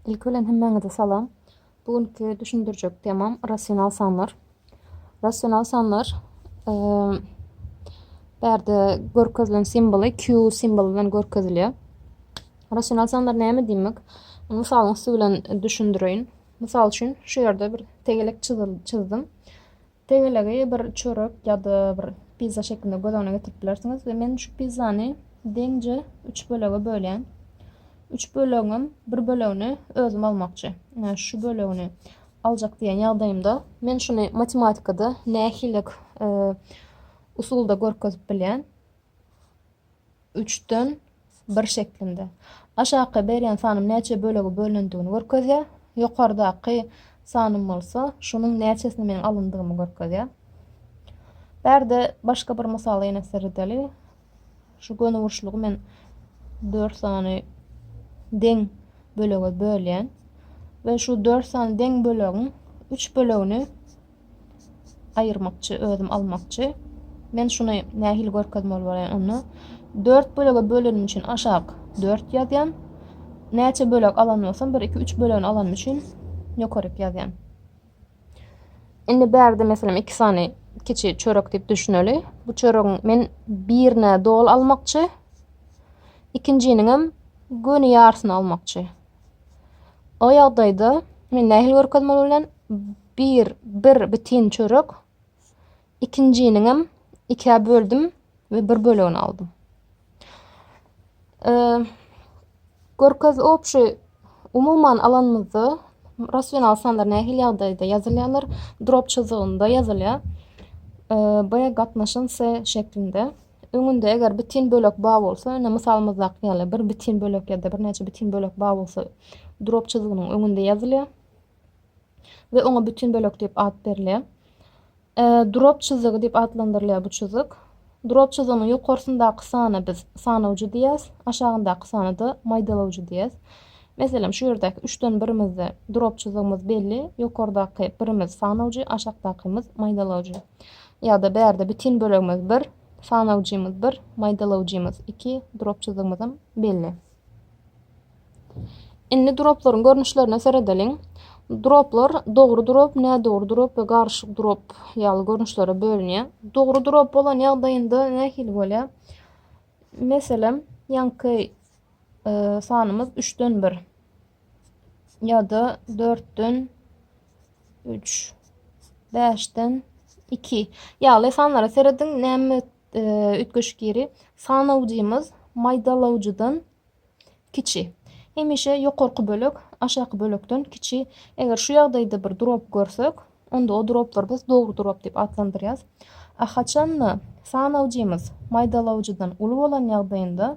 Ilki bilen hemmäňize salam. Bu günki düşündirjek temam rasional sanlar. Rasional sanlar bärde görkezilen simboly Q simboly bilen görkezilýär. Rasional sanlar näme diýmek? Mysalyň üsti bilen düşündireýin. Mysal üçin şu ýerde bir tegelek çyzdim. Tegelegi bir çörek ýa-da bir pizza şeklinde göz öňüne getirip bilersiňiz we men şu pizzany deňje üç bölege bölýän. Üç bölegiňem bir bölegini özüm almakçy. Ine şu bölegini aljak diýen ýagdaýymda men şuny matematikada nähililik usulda görkezip bilýän. üçden bir şeklinde. Aşaky berýän sanyň näçe bölege bölünendigini görkezýär. Ýokardaky sanym bolsa şunuň näçesini meniň alyndygymy görkezýär. Bärde başga bir mysala ýene seredeli. Şu gönüburçlugy men 4 sany deň bölege bölýän we şu 4 sany deň bölegiň 3 bölegini aýyrmakçy, özüm almakçy. Men şuny nähili görkezmeli bolaýyn onda? Dört bölege bölenim üçin aşak dört ýazýan. Näçe bölek alan bolsam, bir, iki, üç bölegini alan üçin ýokaryk ýazýan. Indi bärde meselem iki sany kiçi çörek diýip düşüneli. Bu çöregiň men birine dol almakçy, ikinjiniň hem göni ýarysyny almakçy. O ýagdaýda men nähili görkezmeli bolýan? Bir, bir bitin çörek, ikinjiniňem ikä böldüm we bir bölegini aldym. E, görkez obşy umuman alanymyzda rasional sanlar nähili ýagdaýda ýazylýarlar? Drop çyzygynda ýazylýar. E, B gatnaşan S şeklinde. Öňünde eger bitin bölek bar bolsa, ine mysalymyzdaky ýaly bir bitin bölek ýa-da birnäçe bitin bölek bar bolsa, drop çyzgynyň öňünde ýazylýar we oňa bitin bölek diýip at berilýär. Drop çyzygy diýip atlandyrylýar bu çyzyk. Drop çyzygynyň ýokarsyndaky sana biz sanawjy diýýäs, aşagyndaky sana-da maýdalawjy diýýäs. Meselem, şu ýerdäki üçden birimizde drop çyzygymyz belli, ýokardaky birimiz sanawjy, aşakdakymyz maýdalawjy. Ýa-da bärde bitin bölegimiz bir, sanawjymyz bir, maýdalawjymyz iki, duropçyzygymyzam belli. Indi duroplaryň görnüşlerine seredeliň. Duroplar dogry durop, nädogry durop we garyşyk durop ýaly görnüşlere bölünýär. Dogry durop bolan ýagdaýynda nähili bolýar? Meselem, ýaňky e, sanymyz üçden bir ya da dörtden üç beşden iki ýaly sanlara serediň näme e, üýtgeşik ýeri sanawjymyz maýdalawjydan kiçi hemişe ýokarky bölek aşaky bölekden kiçi eger şu ýagdaýda bir drop görsek onda o droplar biz dogry drop diýip atlandyrýas a haçanda sanawjymyz maýdalawjydan uly bolan ýagdaýynda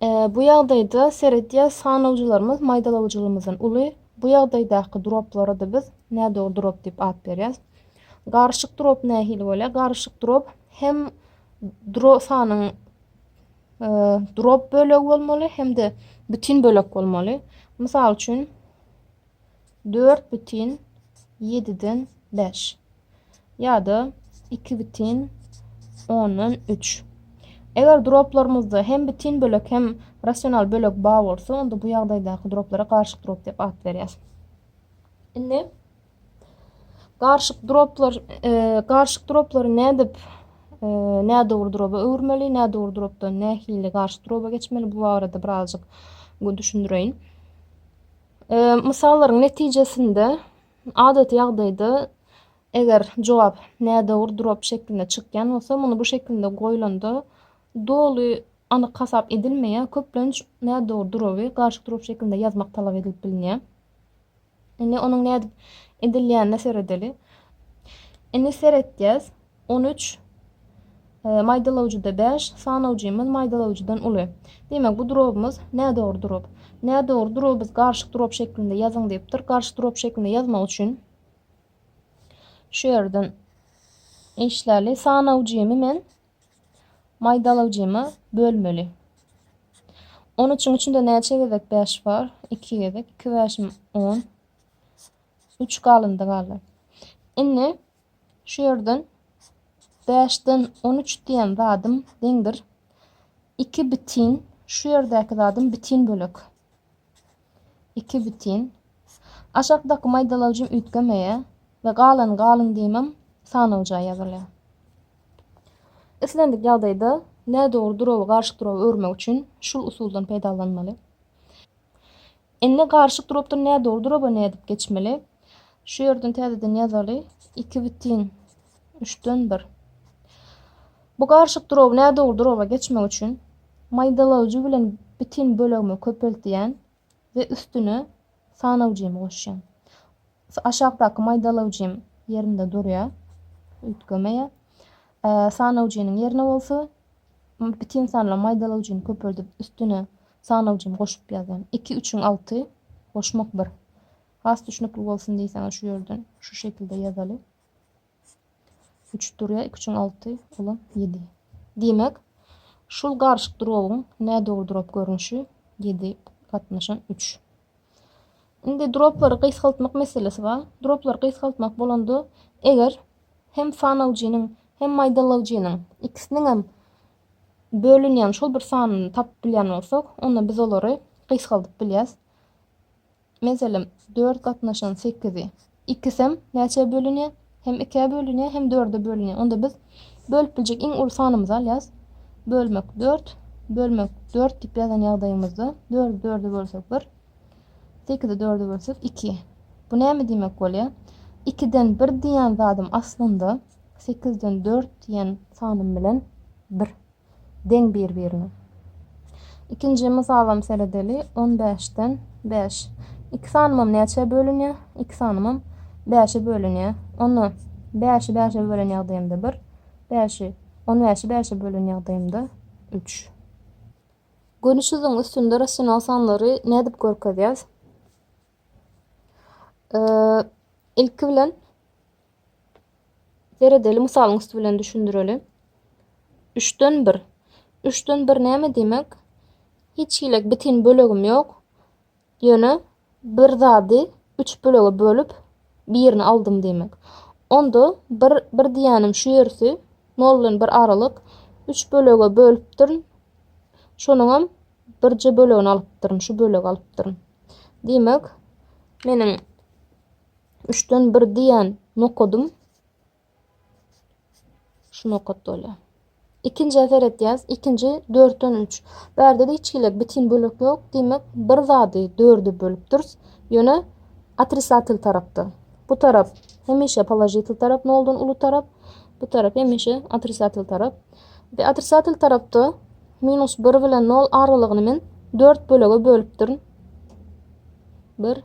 Bu ýagdaýda seredýäs sanawjylarymyz maýdalawjylygymyzdan uly. Bu ýagdaýdaky droplara-da biz nädogry drop diýip at berýäs. Garyşyk drop nähili bolýar? Garyşyk drop hem dro sanyň drop bölegi bolmaly hem-de bütin bölek bolmaly. Mysal üçin dört bütin ýediden bäş ýa-da iki bütin ondan üç. Eger droplarymyzda hem bütin bölek hem rasional bölek bar bolsa, onda bu ýagdaýdaky droplara garyşyk drop diýip at berýäs. Indi garyşyk droplar, e, garyşyk droplary nädip e, nädogry droba öwürmeli, nädogry dropdan nähili garyşyk droba geçmeli bu barada birazjyk düşündireýin. Mysallaryň netijesinde, adaty ýagdaýda eger jogap nädogry durap şeklinde çykýan bolsa, muny bu şekilde goýlanda doly anyk hasap edilmeýär, köplenç nädogry duraby garşy durap şeklinde ýazmak talap edilip bilinýär. Indi onuň nädip edilýänine seredeli. Indi seretýäs. On üç. Maýdalawjyda bäş, sanawjymyz maýdalawjydan uly. Diýmek, bu durabymyz nädogry durap. Nädogry duraby biz garyşyk durap şeklinde ýazyň diýipdir. Garyşyk durap şeklinde ýazmak üçin şu ýerden işläli. Sanawjymy men maýdalawjyma bölmeli. On üçüň içinde näçe gezek bäş bar? Iki gezek. Iki bäşim on. Üç galyndy galdy. Indi Şu ýerden bäşden on üç diýen zadym deňdir. Iki bitin, şu ýerdäki zadym bitin bölek. Iki bitin. Aşakdaky maýdalawjym üýtgemeýär we galan galyň diýmem sanawja ýazylýar. Islendik ýagdaýda nädogry durawy garşy duraw örmek üçin şul usuldan peýdalanmaly. Indi garyşyk durapdyr nä dogry duraba nädip geçmeli? Şu ýerden täzeden ýazaly. 2 bitin 3-den 1. Bu garyşyk duraby nä dogry duraba geçmek üçin maýdalawjy bilen bitin bölegimi köpeltýän we üstüne sanawjymy goşýan. Aşakdaky maýdalawjym ýerinde durýar, üýtgemeýär. Sanawjynyň ýerine bolsa, bitin sanly maýdalawjyny köpeldip, üstüne sanawjyny goşup ýazýan. Iki üçiň alty goşmak bir. Has düşnükli bolsun diýseňiz şu ýerden şu şekilde ýazaly. Üç durýa, iki üçiň alty, olam ýedi. Diýmek, şul garyşyk durowyň nädogry durap görnüşi ýedi gatnaşan üç. Indi droplary gysgaltmak meselesi bar. Droplary gysgaltmak bolanda, eger hem sanawjynyň, hem maýdalawjynyň ikisiniňem bölünýän şol bir sanyny tapyp bilýän bolsak, onda biz olary gysgaldyp bilýäs. Meselem, dört gatnaşan sekizi Ikisem näçä bölünýär? Hem ikä bölünýär, hem dörde bölünýär. Onda biz bölüp biljek iň uly sanymyzy alýarys. Bölmek dört, bölmek dört diýip ýazan ýagdaýymyzda, dördi dörde bölsek bir, sekizi dörde bölsek iki. Bu näme diýmek bolýar? Ikiden bir diýýän zadym aslynda sekizden dört diýýän sanym bilen bir. deň bir-birine. Ikinji mysalam seredeli, on bäşden bäş. Iki sanymam näçä bölünýär? Iki sanymam bäşe bölünýär. Onda bäşi bäşe bölen ýagdaýymda bir, bäşi on bäşi bäşe bölen ýagdaýymda üç. Görnüşiziň üstünde rasional sanlary nädip görkezýäs? Ilki bilen Seredeli mysalyň üsti bilen düşündireli. Üçden bir. Üçden bir näme diýmek? Hiç hili bitin bölegim ýok. Ýöne bir zady üç bölege bölüp, birini aldym diýmek. Onda bir, bir diýýänim şu ýersi, nol bilen bir aralyk. Üç bölege bölüpdirin. Şonuňam birje bölegini alypdyryn, şu bölegi alypdyryn. Diýmek, meniň üçden bir diýen nokadym şu nokat bolýar. İkinci seretýäs, ikinji dörtden üç. Bärde de hiç hili bitin bölek ýok. Diýmek, bir zady dörde bölüpdiris. Ýöne otrisatel tarapda. Bu tarap hemişe položitel tarap noldan uly tarap. Bu tarap hemişe otrisatel tarap. Ve otrisatel tarapda minus 1 bilen 0 aralygyny men 4 bölege bölüpdirin. 1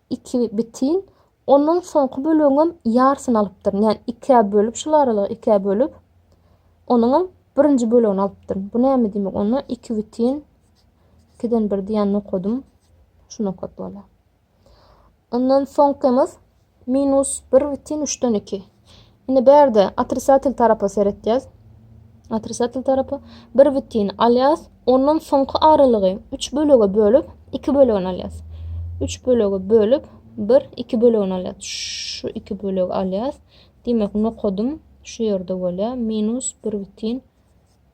iki bitin ondan soňky bölegiňem ýarsyny alypdyryn ýani ikä bölüp şul aralygy ikä bölüp onuňam birinji bölegini alypdyryn bu näme diýmek onda iki bitin ikiden bir diýen nokadym şu nokat bolýar ondan soňkymyz minus bir bitin üçden iki Indi bärde otrisatel tarapa seretýäs. Otrisatel tarapa bir bütin alýas, ondan soňky aralygy üç bölege bölüp, iki bölegini alýas. Üç bölege bölüp, bir, iki bölegini alýas. Şu iki bölegi alýas. Diýmek, nokadym şu ýerde bolýar. Minus bir bütin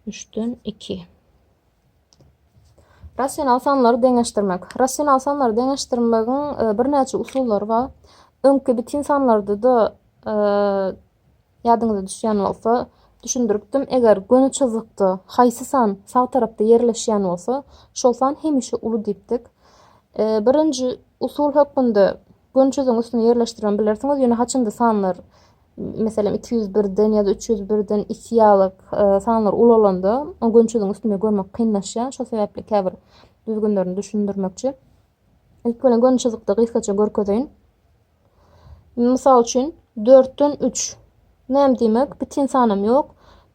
üçden iki. Rasional sanlary deňeşdirmek. Rasional sanlary deňeşdirmegiň e, birnäçe usullary bar. Öňki bitin sanlarda-da e, ýadyňyza düşýän bolsa düşündiripdim. Eger göni çyzykda haýsy san sag tarapda ýerleşýän bolsa, şol san hemişe uly diýipdik. E, birinji usul hökmünde göni çyzygyň üstüne ýerleşdirip bilersiňiz, ýöne haçanda sanlar meselem, iki ýüz birden ýa-da üç ýüz birden isiýalyk sanlar ulalanda, o gönçüziň üstünde görmek kynlaşýar. Şo sebäpli käbir düzgünlerini düşündirmekçi. Ilk bilen gönçüzikde gysgaça görkezeýin. Mysal üçin, dörtden üç. Näme diýmek? Bitin sanam ýok.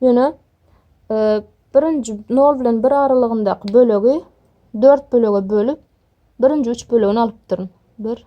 Ýöne birinji nol bilen bir aralygyndaky bölegi dört bölege bölüp, birinji üç bölegini alypdyryn. Bir,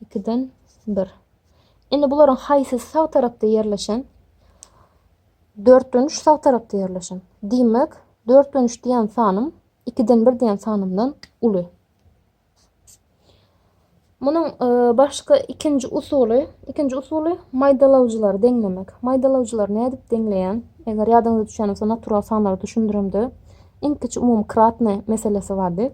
Ikiden bir. Indi bularyň haýsysy sag tarapda ýerleşen? Dörtden üç sag tarapda ýerleşen. Diýmek, dörtden üç diýen sanym ikiden bir diýen sanymdan uly. Munuň e, başga ikinji usuly, ikinji usuly maýdalawjylary deňlemek. Maýdalawjylary nädip deňleýän? Eger ýadyňyza düşen bolsa, natural sanlary düşündiremde iň kiçi umumykratny meselesi bardy.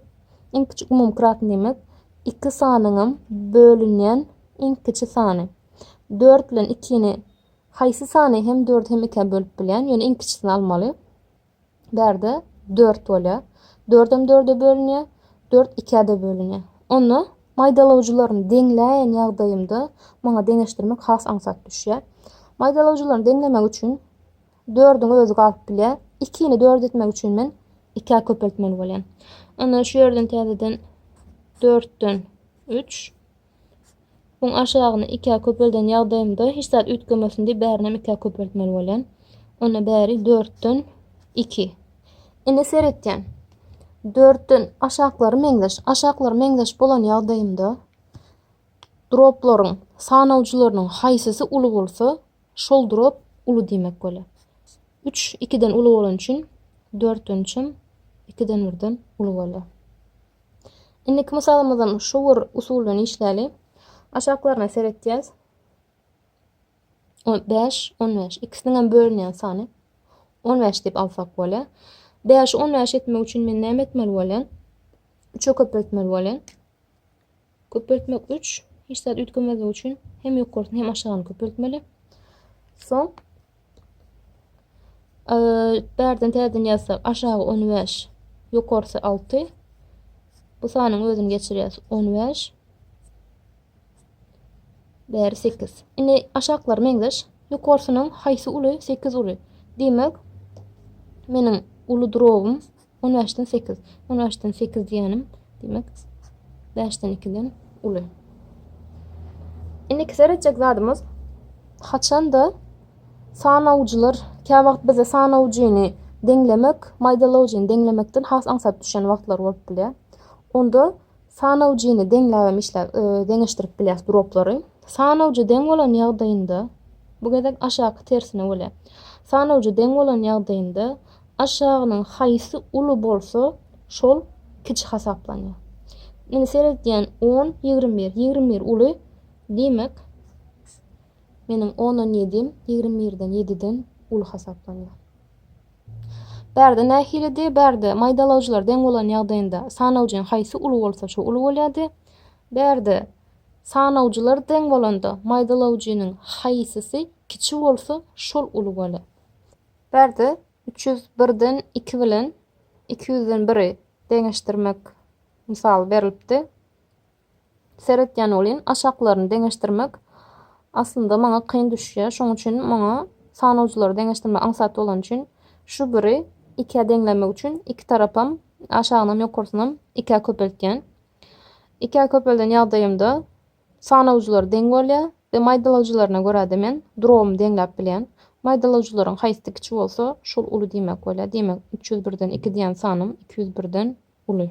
Iň kiçi umumykratny diýmek, iki sanynyňam bölünýän iň kiçi sany. Dört bilen ikini haýsy sany hem dördi hem ikä bölüp bilýän, ýöne iň kiçisini almaly. Bärde dört bolýar. Dördem dörde bölünýär, dört ikä-de bölünýär. Onda maýdalawjylaryny deňläýen ýagdaýymda maňa deňeşdirmek has aňsat düşýär. Maýdalawjylaryny deňlemek üçin Dördüň özi galyp bilýär. Ikini dört etmek üçin men ikä köpeltmeli bolýan. Onda şu ýerden täzeden dörtden üç. Buň aşagyny ikä köpelden ýagdaýymda hiç zat üýtgemesin diýip bärini hem ikä köpeltmeli bolýan. Onda bäri dörtden iki. Indi seretýän. Dörtden aşaklary meňzeş. Aşaklary meňzeş bolan ýagdaýymda droplaryň sanawjylarynyň haýsysy uly bolsa Şol drop uly diýmek bolýar. Üç ikiden uly bolany üçin dörtden üçem ikiden birden uly bolýar. Indiki mysalymyzam şu bir usul bilen işläli. Aşaklaryna seretýäs. 5, 15. İkisiniň hem bölünýän sany 15 diýip alsak bolýar. 5-i 15 etmek üçin men näme etmeli bolýan? 3-e köpeltmeli bolýan. Köpeltmek üç, hiç zat üýtgemezligi üçin hem ýokarysyny hem aşagyny köpeltmeli. Soň bärden täzeden ýazsak aşagy 15, ýokarsy 6. Bu sanyň özüni geçirýäs 15. Bäri 8. Indi aşaklar meňzeş. Ýokarsynyň haýsy uly? 8 uly. Diýmek, meniň uly drobum On bäşden sekiz. On bäşden sekiz diýenim, diýmek, bäşden ikiden uly. Indiki seretjek zadymyz haçanda sanawjylar kä wagt bize sanawjyny deňlemek, maýdalawjyny deňlemekden has aňsat düşen wagtlary bolup bilýär. Onda Sanawjyny deňläp hem işläp, deňeşdirip bilýäs droplary. Sanawjy deň bolan ýagdaýynda, bu gezek aşaky tersine bolýar. Sanawjy deň bolan ýagdaýynda aşagynyň haýsy uly bolsa, şol kiçi hasaplanýar. Indi seredýän on, ýigrimi bir. Ýigrimi bir uly. Diýmek, meniň ondan ýedim ýigrimi birden, ýediden uly hasaplanýar. Bärde nähilidi? Bärde maýdalawjylar deň bolan ýagdaýynda sanawjyň haýsy uly bolsa şo uly bolýardy. Bärde sanawjylar deň bolanda maýdalawjynyň haýsysy kiçi bolsa şol uly bolýar. Bärde üç ýüz birden iki bilen iki ýüzden biri deňeşdirmek mysaly berlipdi. Seretýän welin, aşaklaryny deňeşdirmek aslynda maňa kyn düşýär. Şonuň üçin maňa sanawjylary deňeşdirmek aňsat bolany üçin şu biri ikä deňlemek üçin iki tarapam aşagynam ýokarsynam ikä köpeltýän. Ikä köpelden ýagdaýymda sanawjylar deň bolýar we maýdalawjylaryna görä-de men drobymy deňläp bilýän. Maýdalawjylaryň haýsy kiçi bolsa şol uly diýmek bolýar. Diýmek üç ýüz birden iki diýen sanym iki ýüz birden uly.